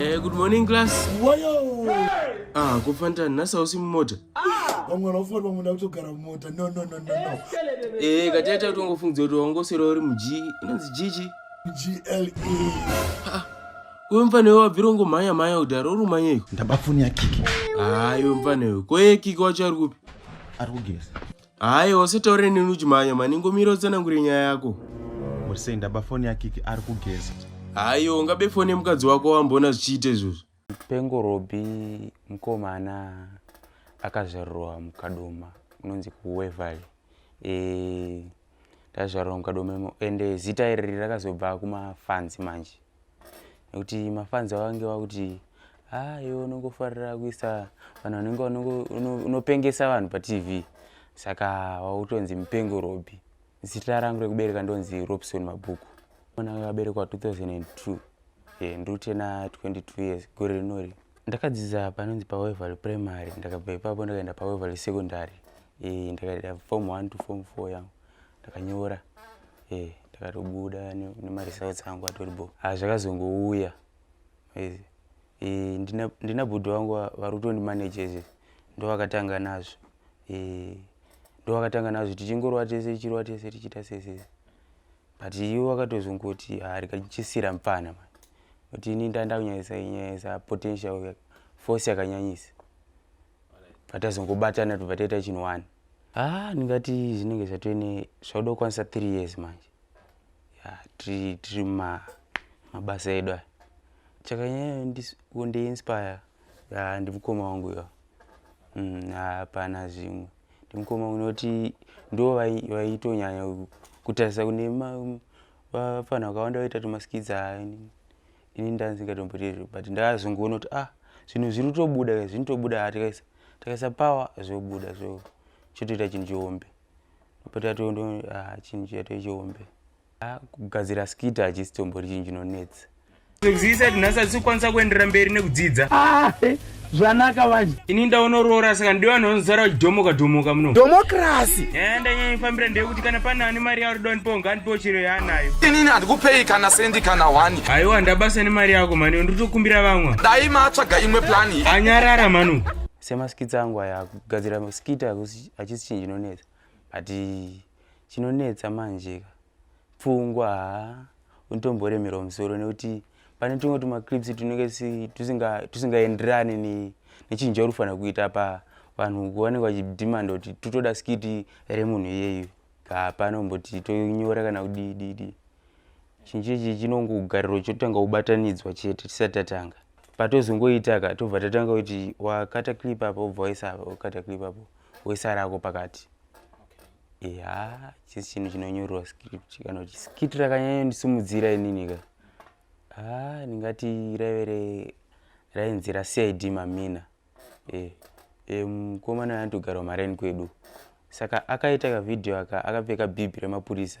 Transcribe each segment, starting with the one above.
Eh, good morning class. Wayo. Hey! Ah, kufanta nasa usi mumota. Ah! Vamwe vanofana vamwe na kutogara mumota. No no no no no. Eh, kati acha kutongofunza kuti wangosera uri mu G, inonzi G G. G L E. Ah. Uyo mfana wewa virongo maya maya udaro uri manya iko. Ndabafuni ya kiki. Ah, uyo mfana wewa. Ko ye kiki wacho ari kupi? Ari kugeza. Hayo usitaure neni uchimhanya mani ngomira utsanangure nyaya yako. Muri sei ndaba foni yakiki ari kugeza. Hayo ungabe foni yemukadzi wako wamboona zvichiita izvozvo. Pengo Robi mkomana akazvarirwa mukadoma unonzi kuWeverly. Eh tazvarirwa mukadoma ende zita iri rakazobva kumafanzi manje. nekuti mafanzi vavange vakuti haa ah, iwe unongofarira kuisa vanhu vanenge unopengesa vanhu patv saka wakutonzi mupengo robi zita rangu rekubereka ndonzi robson mabhuku mwana akaberekwa 2002 e, ndiri kutena 22 years gore rinori ndakadzidza panonzi pawevery primary ndakabva ipapo ndakaenda pawevery secondary e, ndakaita form 1 to form 4 yangu ndakanyora eh ndakatobuda nemaresults angu atori bo ah zvakazongouya eh, eh ndina ndina bhudo wangu vari kutondi managers ndovakatanga nazvo eh ndovakatanga nazvo tichingorwa tese tichirwa tese tichiita sese but iwo wakatozongoti ah rikachisira mfana manje kuti ini ndandakunyanyisa nyanyisa potential force yakanyanyisa patazongobatana tobva taita chinhu one ah ndingati zvinenge zvatone zvauda kukwanisa three years manje ya tiri tiri ma mabasa edu aya chakanyanya kundiinspire ya ndimukoma wangu yo mm, hapana mm, zvimwe ndimukoma unoti ndo vaitonyanya kutarisa kune vafana vakawanda vaita tumaskidza ini ndandisingatomboite izvo but ndakazongoona kuti ah zvinhu zviri kutobuda ka zvinotobuda ha tikaisa takaisa power zvobuda zvo chotoita chinhu chihombe patatondo ah chinhu chato chihombe ah kugadzira skita hachisi tombori chinhu chinonetsa Zviisa tinhasi asikwanisa kuenderera mberi nekudzidza. Ah, eh. zvanaka manje ini ndaonoroora saka ndiwe vanhu vanozara vachidhomoka dhomoka muno dhomokirasi eh, ndanyanyifambira ndeyekuti kana pana ane mari yauri donipo ngandipo chiro yaanayo inini handikupei kana sendi kana wani haiwa ndabasa nemari yako mani nditokumbira vamwa dai matsvaga imwe plani anyarara manu semaskits angu aya kugadzira maskit achisi chinhu chinonetsa but chinonetsa manjeka pfungwa haa unotomboremerwa musoro nekuti pane tumwe tumaclips tunenge tusingaenderani tusinga nechinhu chauri kufanira kuita pa vanhu vanenge vachidhimanda kuti tutoda skiti remunhu iyeyu hapana kumboti tonyora kana kudididi chinhu chechi chinongogariro chotanga kubatanidzwa chete tisati tatanga patozongoita ka tobva tatanga kuti wakata clip apo obva waisa apo wakata clip apo woisa rako pakati ya chisi chinhu chinonyorwa script kana kuti skit rakanyanya ndisimudzira inini ka ha ndingati raive rainzi racid mamina e, e, mukomana anotogara mareni kwedu saka akaita kavhidhiyo aka akapfeka bhibhi remapurisa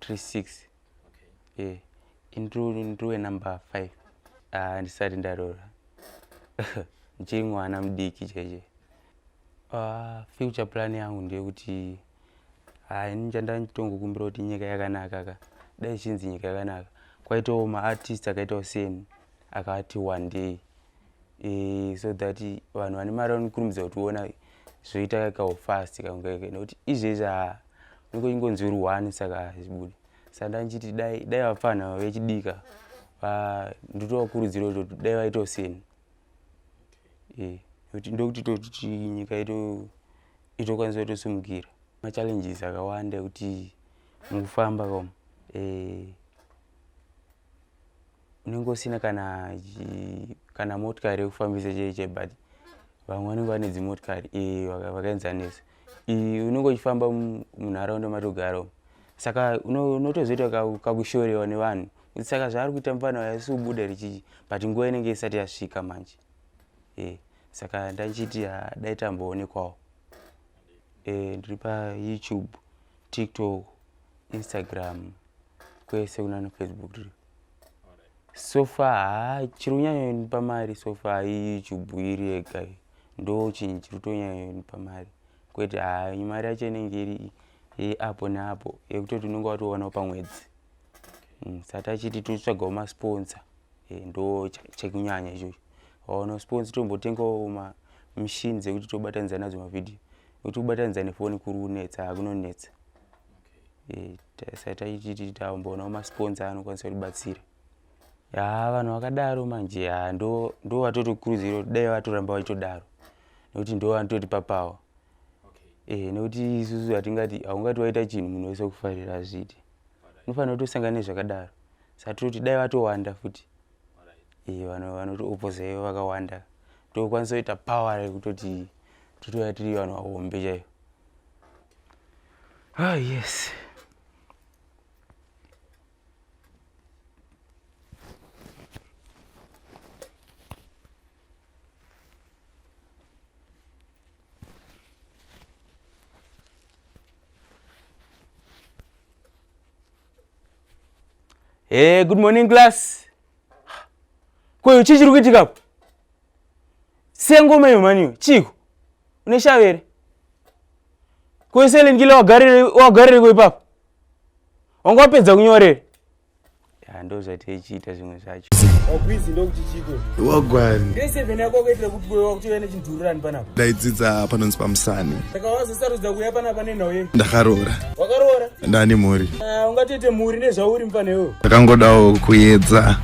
36 e ndiwe number 5 ah, ndisati ndarora ndichiri mwana mudiki cheche ah, future plan yangu ndeyekuti ah, ini chandanditongokumbira kuti nyika yakanaka ka dai ichinzi nyika yakanaka kwaitawo maartist akaitawo seni akati one day e, so that vanhu vane mari vanokurumidza kutiona zvoita kawo fast kange nekuti izvezvi unenge uchingonzi uri one saka hazvibude saka ndandichiti dai dai vapfanha vechidika ndotovakurudzira kuti dai vaitawo seni eh, ndokuti tokuti nyika itokwanisa kutosimukira machallenges akawanda ekuti mukufamba kom eh, unenge usina kana kana motikari yekufambisa chei chei but vamwe vanenge vane dzimotikari eh, vakaenzanisa unenge uchifamba munharaunda matogara umu saka unotozoita kakushorewa nevanhu kuti saka zvaari kuita mufana uya si kubuda richichi but nguva inenge isati yasvika manje e saka ndachiti dai tamboonekwawo e ndiri payoutube tiktok instagram kwese kunana facebook tiri sofa haa chiri kunyanyonipa mari sofa iyi chibwiri yega ndo chinhu chiri kutonyanyonipa mari kwete haa mari yacho inenge iri yeapo neapo yekutoti unenge watoonawo pamwedzi mm, sati achiti totsvagawo masponsa eh, ndo chekunyanya ichocho waona sponsa tombotengawo machine dzekuti tobatanidza nadzo mavhidhiyo kuti ubatanidza nefoni kuri kunetsa hakunonetsa taititi takumboonawo masponsa anokwanisa kutibatsira ya vanhu vakadaro manje ya ndo ndo vatotokurudziro dai vatoramba vachitodaro nekuti ndo vanototi papawa okay. e, nekuti isusu hatingati haungati waita chinhu munhu wese kufarira hazviiti unofanira kutosangana nezvakadaro sa toti dai vatowanda futi e, vanhu vanotiopposa ivo vakawanda tokwanisa kuita power rekutoti totouya tiri vanhu vahombe chaivo Ah, yes. Hey, eh, good morning class. Kwa hiyo chichi rukitika hapo? sengoma iyo mhani iyo chiiko une shave here koiselin kile wagarireko ipapo wanga wapedza kunyorere ndo zvati ichiita zvimwe zvacho wagwani ndaidzidza panonzi pamusani saka wazosarudza kuya pana pane nhau yei ndakaroora wakaroora ndane mhuri Ah, ungatoite mhuri nezvauri mfana iwewe ndakangodawo kuyedza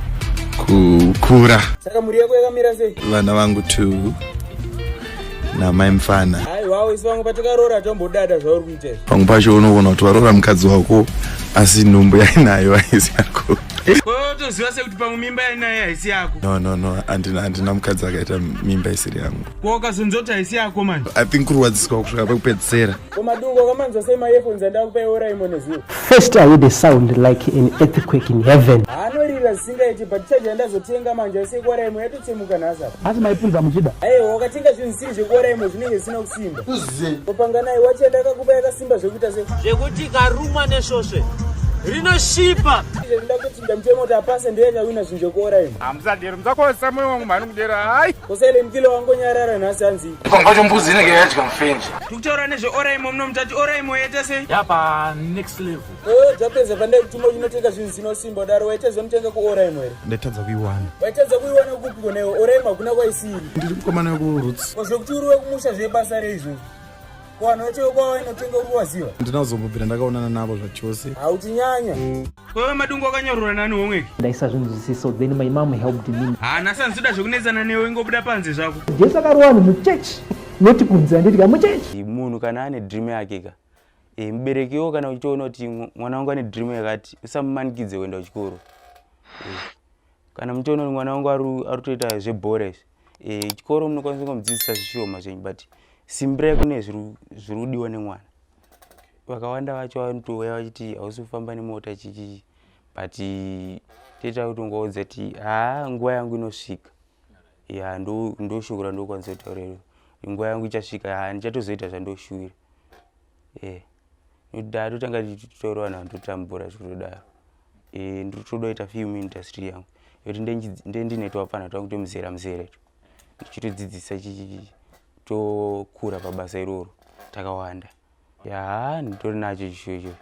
kukura saka mhuri yako yakamira sei vana vangu two namai mfana hayi wawo isi vamwe patakaroora tombodada zvauri kuita izvi pamwe pacho unogona kuti waroora mukadzi wako asi nhumbu yainayo haisi yako kotoziva sekuti pamwe mimba yainaye haisi yako no no no handina handina mukadzi akaita mimba isiri yangu ko ukazonzi kuti haisi yako manje i think kurwadziswa kusvika pekupedzisera ko madungo wakamanzwa sei maearphones andakupai oraimo nezuva first i heard a sound like an earthquake in heaven anorira zvisingaiti but charge yandazotenga manje asi yekuoraimo yatotsemuka nhasi apa asi maipunza muchida aiwa wakatenga zvinhu zvisiri zvekuoraimo zvinenge zvisina kusimba uzive kopanganai wachi yandakakupa yakasimba zvekuita se zvekuti karumwa nesvosve rinoshipa ndamutemo kuti apase ndiye akawina zvinjokora imi hamusadero musakosa moyo wangu mhani kudera hayi kusele mkilo wangonyarara nhasi hanzi pambacho mbuzi inenge yadya mufenje tikutaura nezveoraimo muno mutati oraimo yaita sei yapa next level o dzapedza pandai kutuma uchinotenga zvinhu zvinosimba udaro waita zvinotenga kuoraimo here ndaitadza kuiwana waitadza kuiwana kupi konewo oraimo hakuna kwaisiri ndiri mukomana wekuroots kozvekuti uri wekumusha zvebasa reizvozvo kuvanhu vacho kwavo inotenga uruwaziva ndinazobubira ndakaonana navo zvachose hautinyanya wewe madungu akanyorora nani womwe ndaisa zvinhu zvisiso then my mom helped me hana sanzida zvekunetsana newe ingobuda panze zvako jesu akarowa ni muchechi noti kunze anditi ka muchechi munhu kana ane dream yake ka e, mubereki wo kana uchiona kuti mwana wangu ane dream yakati usamumanikidze kuenda kuchikoro e. kana mutoona kuti mwana wangu ari kutoita zvebhora izvi eh, chikoro e, munokwanisa kungomudzidzisa zvishoma zvenyu but simbirai kune zviri kudiwa nemwana vakawanda vacho vanotouya vachiti hausi kufamba nemota chichii but toita kuti ungaudza ti haa nguva yangu inosvika ya ndoshoko randokwanisa kutaurira nguva yangu ichasvika haa ndichatozoita zvandoshuvira e. ndoda totanga tichitorwana vanhu totambura zvikutodaro eh, ndotodoita film industry yangu yoti ndendine twapfana twangu twemuzera muzere to ndichitodzidzisa chichichichi tokura pabasa iroro takawanda yaa nditori nacho chishuwo ichocho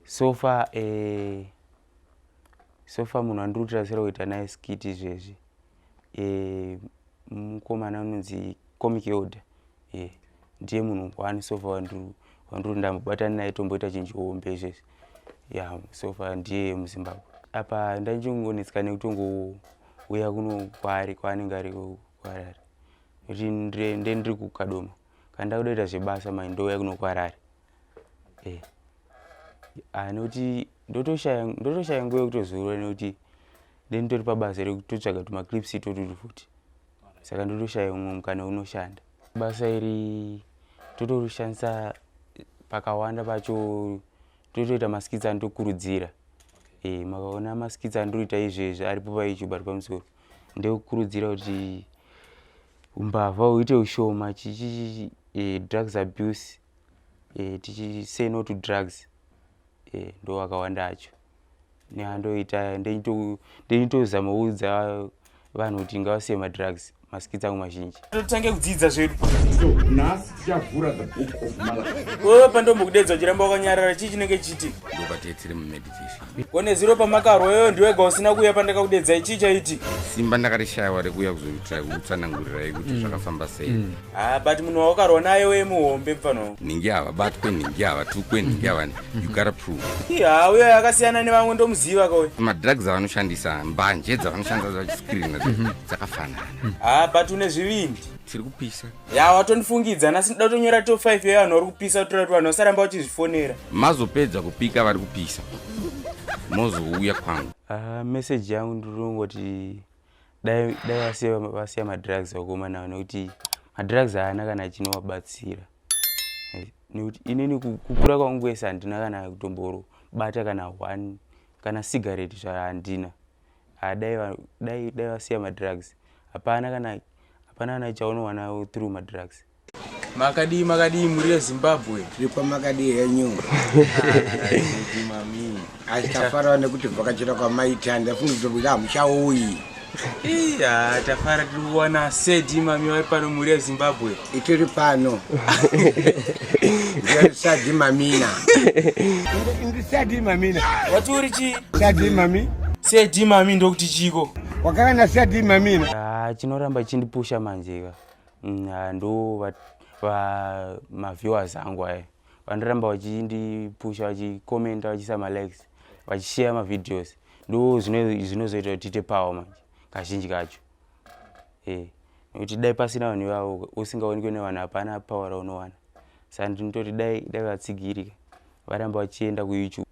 so far eh, so far munhu andiri kutirasira kuita naye skiti izvezvi eh, mukomana anonzi comic order yeah. ndiye munhu one so far wandiri ndambobatana naye tomboita chinhu chihombe izvezvi yeah, so far ndiye muzimbabwe apa ndandingonetseka nekutongouya kuno kwaari kwaanenge ari kwarari kuti nde ndiri kukadoma kana ndakudaita zvebasa mai ndouya kuno kwarari e eh. ah, nekuti ndotoshaya nguva yekutozorora nekuti nde nditori pabasa rekutotsvaga tumaclips itotutu futi saka ndotoshaya umwe mukana wekunoshanda basa iri totorishandisa pakawanda pacho totoita maskits andokurudzira e, eh, makaona maskits andoita izvezvi aripo payoutube ari pamusoro ndekukurudzira kuti umbavha uite ushoma chichichi e, eh, drugs abuse e, eh, tichisay no to drugs e, ndo akawanda acho ya ndoita ndoitozama kuudza vanhu kuti ngavasiye madrugs maskits angu mazhinji totange kudzidza zvedu nhasi tichavhura the book of malachi wewe pandombokudedza uchiramba wakanyarara chii chinenge chiti ndobate tiri mumeditation kone ziro pamakarwa wewe ndiwega usina kuuya pandakakudedzai chii chaiti simba ndakarishayiwa rekuuya kuzoitira kutsanangurirai kuti mm. zvakafamba sei mm. Ah, but munhu waukarwa naye wee muhombe pfano nhingi ava batwe nhingi ava tukwe nhingi ava you gotta prove ha uyo akasiyana nevamwe ndomuziva kauyo madrugs avanoshandisa mbanje dzavanoshandisa zvachiscreen mhm. dzakafanana ha ah, but une zvivindi tiri kupisa ya watondifungidza nasi ndida kutonyora to 5 yevanhu vari kupisa kutora kuti vanhu vasaramba vachizvifonera mazopedza kupika vari kupisa mozouya kwangu ah, meseji yangu ndiri kungoti dai vasiya vasiya madrugs vakoma nawo nekuti madrugs haana kana chinovabatsira nekuti inini kukura kwangu kwese handina kana kutomboro bata kana one kana cigarette zva handina dai dai vasiya madrugs hapana kana hapana kana chaunowana through madrugs Makadii makadii muri yeZimbabwe? Tiri pamakadii henyu? Asi tafarawo nekuti vhakachira kwamaita ndafunga kuti kuti hamuchauyi. Iya tafara tiri kuwana sedi mami vari pano muri yeZimbabwe. Itiri pano. Ndiri sadi mamina. Ndiri sadi mamina. Wati uri chii? Sadi mami. Sedi mami ndokuti chiko. Wakava na sadi mamina. Ah, chinoramba chindipusha manjeka. Mm, ah, ndo vamaviewers angu aya vanoramba vachindipusha vachikomenta vachiisa malikes vachishare mavideos ndo zvinozoita kuti tiite power manje kazhinji kacho e nekuti dai pasina vanhu ivavo usingaonekwe nevanhu hapana power raunowana sa ndinototi dai dai vatsigirika varamba vachienda kuyoutube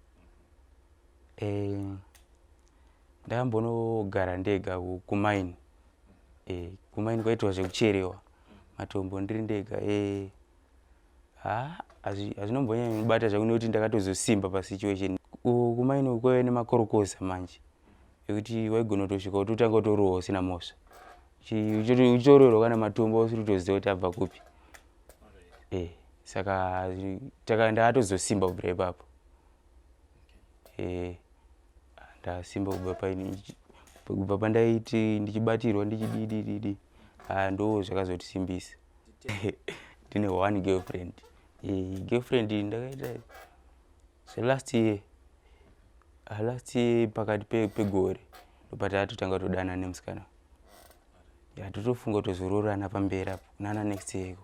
e, ndakambonogara ndega kumaini e, eh, kumaini kwaitwa zvekucherewa matombo ndiri ndega e, ha hazvinombonyanya kunobata zvakunoti ndakatozosimba pasituation kumaini kwaive nemakorokoza manje ekuti waigona kutosvika utotanga utorohwa usina mhosva uchitorohwa kana matombo usiri kutoziva kuti abva kupi e, eh, saka ndakatozosimba kubvira ipapo e, ndasimba kubva paini kubva pandaiti ndichibatirwa ndichididididi haa ndo zvakazotisimbisa ndine one girlfriend e, girlfriend ndakaita selast year ah, last year pakati pegore ndopatatotanga todana nemusikana yatotofunga tozoroorana pamberi apo nana next year iko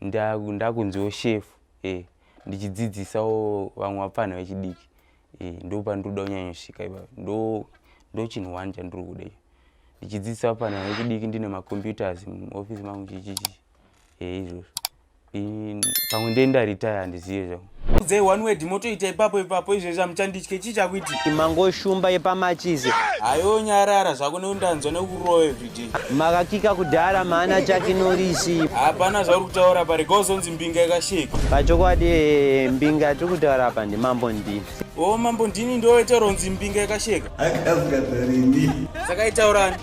ndakunziwo shefu eh, ndichidzidzisawo vamwe vapfanha vechidiki eh, ndo pandinoda kunyanyosvika ipapo ndo ndo chinhu one chandiri kuda iyo ndichidzidzisa vapfanha vechidiki ndine macomputers muofisi mangu chichichi eh, izvozvo pamwe ndendaritaya handizive zvangu udzai one word motoita ipapo ipapo izvezvi amuchanditye chii chakuiti mangoshumba yepamachizi hayo nyarara zvako neundanzwa nekurowa everyday makakika kudhara maana chake norisi hapana zvauri kutaura pari gozonzi mbinga ikasheka pachokwadi eh, mbinga yatiri kutaura apa ndimambo ndini o oh, mambo ndini ndoita ronzi mbinga ikasheka saka itaurani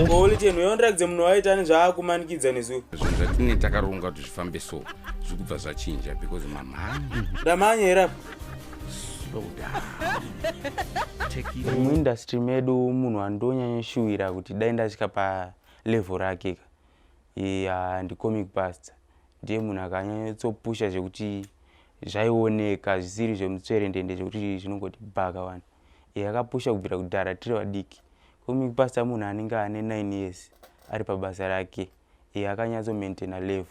olitenhu oh, yondirakidze munhu waitani zvaakumanikidza nezuro zvinhu zvatine takarunga kuti zvifambe so zvikubva zvachinja because mamhanya ndamhanya here apa slow down Take it. muindustry medu munhu andonyanyoshuwira kuti dai ndasvika palevel rake ka ya ndicomic pasta ndiye munhu akanyanyotsopusha zvekuti zvaioneka zvisiri zvemutsverendende zvekuti zvinongoti bhaka wani iye akapusha kubvira kudhara tiri vadiki comic pasta munhu anenge ane 9 years ari pabasa rake e, akanyatso maintaina level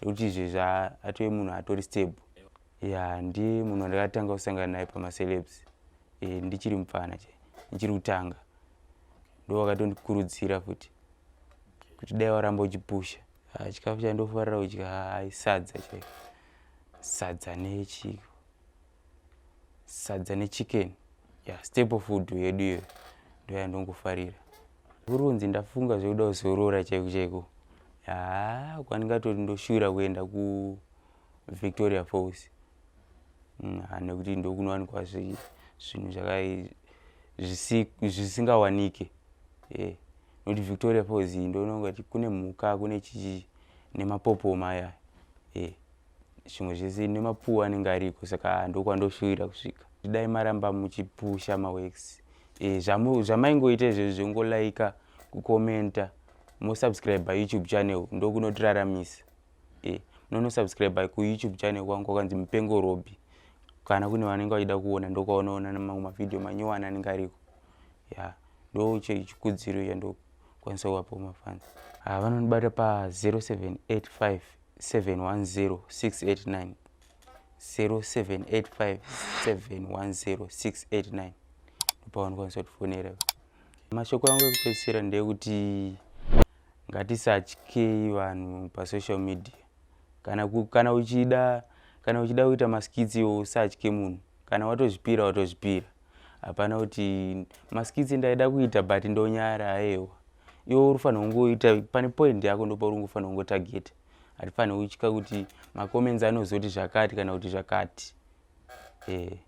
yekuti izve zvaatove munhu atori stable ya ndiye munhu wandakatanga kusangana naye pamacelebs e, ndichiri mupfana chai ndichiri kutanga ndo wakatondikurudzira futi kuti dai waramba uchipusha ah, chikafu chandofarira kudya ah, sadza chai sadza nechiko sadza nechicken yeah, staple food yedu iyo ndoyandongofarira urunzi ndafunga zvekuda kuzorora chaiko chaiko haa kwandingatoti ndoshura kuenda kuvictoria falls mm, nekuti ndokunowanikwa zvinhu zvisingawanike yeah. nokuti victoria falls iyi ndonongati kune mhuka kune chichi nemapopoma aya yeah. zvimwe zvese nemapuwa anenge ariko saka ndokwandoshuvira kusvika dai maramba muchipusha maworks e, zvamaingoita izvezvi zvongolaika kukomenta mosubscribe youtube channel ndokunotiraramisa e, munonosubscribe kuyoutube channel kwangu kwakanzi mupengo robi kana kune vanenge vachida kuona ndokwaunoona namamwe mavhidhiyo manyowani anenge ariko ya ndo chikudziro chandokwanisa kuvapo mafanzi ah, vanondibata pa 0785 710689 0785710689 ndopawanokwanisa kutifonera mashoko yangu ekupedzisira ndeyekuti ngatisatyei vanhu pasocial media kana, kana uchida kana uchida kuita maskits iwo usatye munhu kana watozvipira watozvipira hapana kuti maskitsi ndaida kuita but ndonyara aewa iwe uri fanira kungoita pane point yako ndopauri ungofanira kungotageta hatifanira kutya kuti macomments anozoti zvakati kana kuti zvakati e,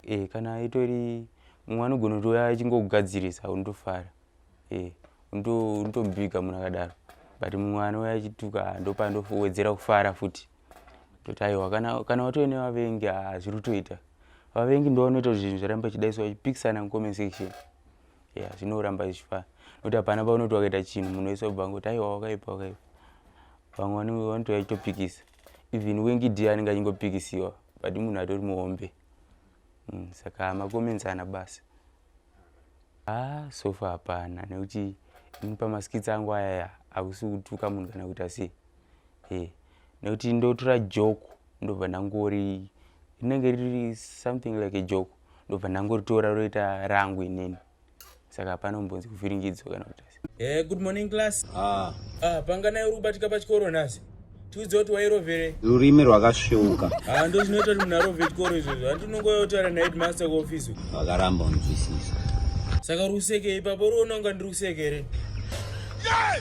e, kana itori mumwe anogona kuti uya achingokugadzirisa unotofara e, unotombiga munhu akadaro but mumwe anouya achituka ndopandowedzera kufara futi toti aiwa kana, kana watove nevavengi hazviri kutoita vavengi ndo vanoita kuti zvinhu zviramba chidaiswa chipikisana mucomment section ya zvinoramba zvichifana nokuti hapana paunoti wakaita chinhu munhu wese wabva ngoti aiwa wakaipa wakaipa vamwe vanenge vanotouya chitopikisa even wengi d anenge achingopikisiwa but munhu atori muhombe mm, saka macomments ana basa Ah, sofa hapana nekuti ini pamaskits angu ayaya akusi kutuka munhu kana kuita sei e nekuti ndotora joko ndobva ndangori rinenge riri something like a joko ndobva ndangoritora roita rangu inini saka hapana kumbonzi kuvhiringidzwa kana kuita Christ. Eh, good morning class. Ah. Ah, panga nayo uri kubatika pachikoro nhasi. Tiudze kuti wairovere. Rurimi rwakasveuka. Ah, ndozvinoita kuti munhu arove chikoro izvozvo. Hanti unongoyotaura naheadmaster kuofisi. Vakaramba unzwisisa. Saka uri kuseke ipapo uri unonga ndiri kuseke here? Yeah!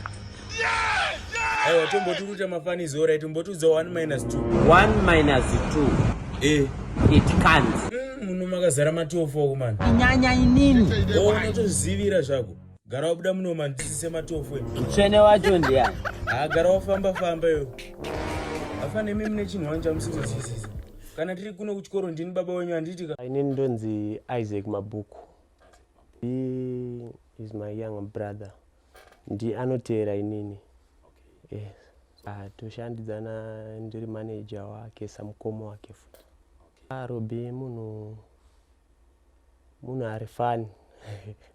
Yeah! Yeah! Aiwa, tomboturuta mafanizi orai, tombotiudza 1 minus 2. 1 minus 2. Eh. It can't. Mm, muno makazara matofo kumana. Nyanya inini. Unotozivira zvako. Gara wabuda muno mani tisise matofo. Mutsvene wacho ndiani? Ah gara wafamba famba yo. Afa nemi mune chinhu wani chamusizosisisa. Kana tiri kuno kuchikoro ndini baba wenyu handiti ka. Ini ndonzi Isaac Mabhuku. He is my young brother. Ndi anoteera inini. Okay. Yes. Ah toshandidzana ndiri manager wake samukoma wake futi. Okay. Ah Robi munhu munhu ari fani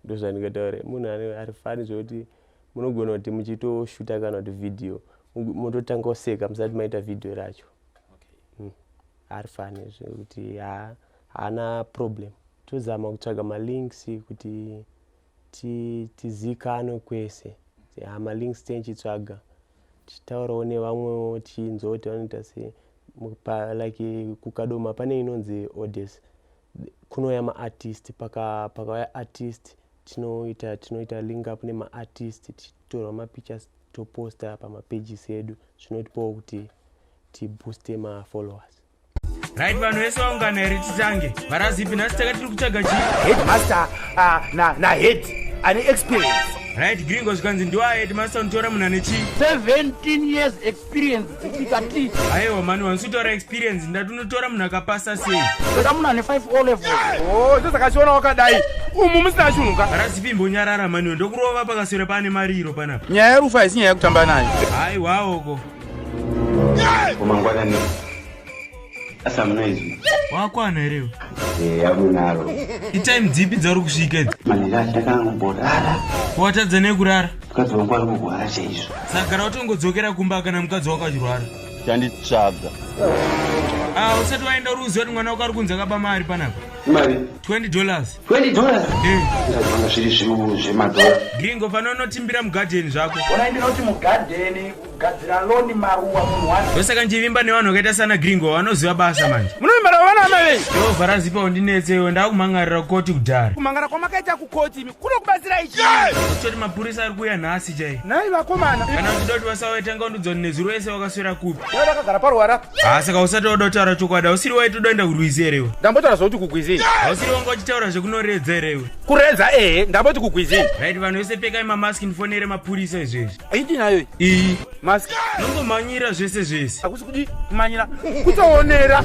ndozvandingataure munhu ari fani zvekuti munogona kuti muchitoshuta kana kuti vhidhiyo mototanga kuseka musati maita vhidhiyo racho hmm. ari fani zvekuti haana problem tozama kutsvaga malinks kuti tizikanwe kwese ha malinks tenchitsvaga tichitaurawo nevamwewo tichinzwa kuti vanoita se like kukadoma pane inonzi odes kunouya maartist paka pakauya artist tinoita tinoita link up nemaartist tichitorwa mapictures toposta pamapages edu zvinotipawo kuti tibooste mafollowers right vanhu vese vaungana here titange varazipi nhasi taka tiri kutsvaga chi headmaster ah, nahead ane experience right gringo zvikanzi ndiwaheadmaster unotora munhu ane chii 17 years experience dzitika ti aiwa mani wansutora experience ndati unotora munhu akapasa sei ndoda munhu ane 5 o level o icho sakachiona wakadai umu musina chunhu ka rasipi mbonyarara maniwe ndokurova pakaswera paane mariro panapa nyaya yerufu haisi nyaya yekutamba nayo aiwaoko kumangwanani Asa munoizwi. Wakwana here iwe? Eh, yakunaro. Itime dzipi dzauri kusvika idzi? Manira ndakamborara. Watadza nekurara? Mukadzi wangu ari kurwara chaizvo. Sagara watongodzokera kumba kana mukadzi wako achirwara. Chanditsvaga. Ah, usati waenda uri kuziva kuti mwana wako ari kunzi akaba mari panapa. Mari? 20 dollars. 20 dollars? Eh. Ndazvanga zviri zviuru zvemadhora. Gringo fana unotimbira mugadheni zvako. Ona ndinoti mugadheni. gadzira loni maruwa munhu wani ndosaka ndichivimba nevanhu vakaita sana gringo vanoziva basa manje munovimba navo vana amai venyu yehova razipa undinetse iwe ndakumhangarira kukoti kudhara kumhangara kwamakaita kukoti imi kuno kubatsira ichi kutoti mapurisa ari kuuya nhasi chai nhai vakomana kana uchida kuti vasawe tanga undidzoni nezuro yese wakaswera kupi dai vakagara paruwara apa haa saka usati wada kutaura chokwadi hausiri waitodoenda kurwizi here iwe ndambotaura zvokuti kugwizini hausiri wanga uchitaura zvekunoredza here iwe kuredza ehe ndamboti kugwizini right vanhu vese pekai mamaski ndifonere mapurisa izvezvi aiti nayo iyi mask nongomhanyira zvese zvese hakusi kuti kumhanyira kutowonera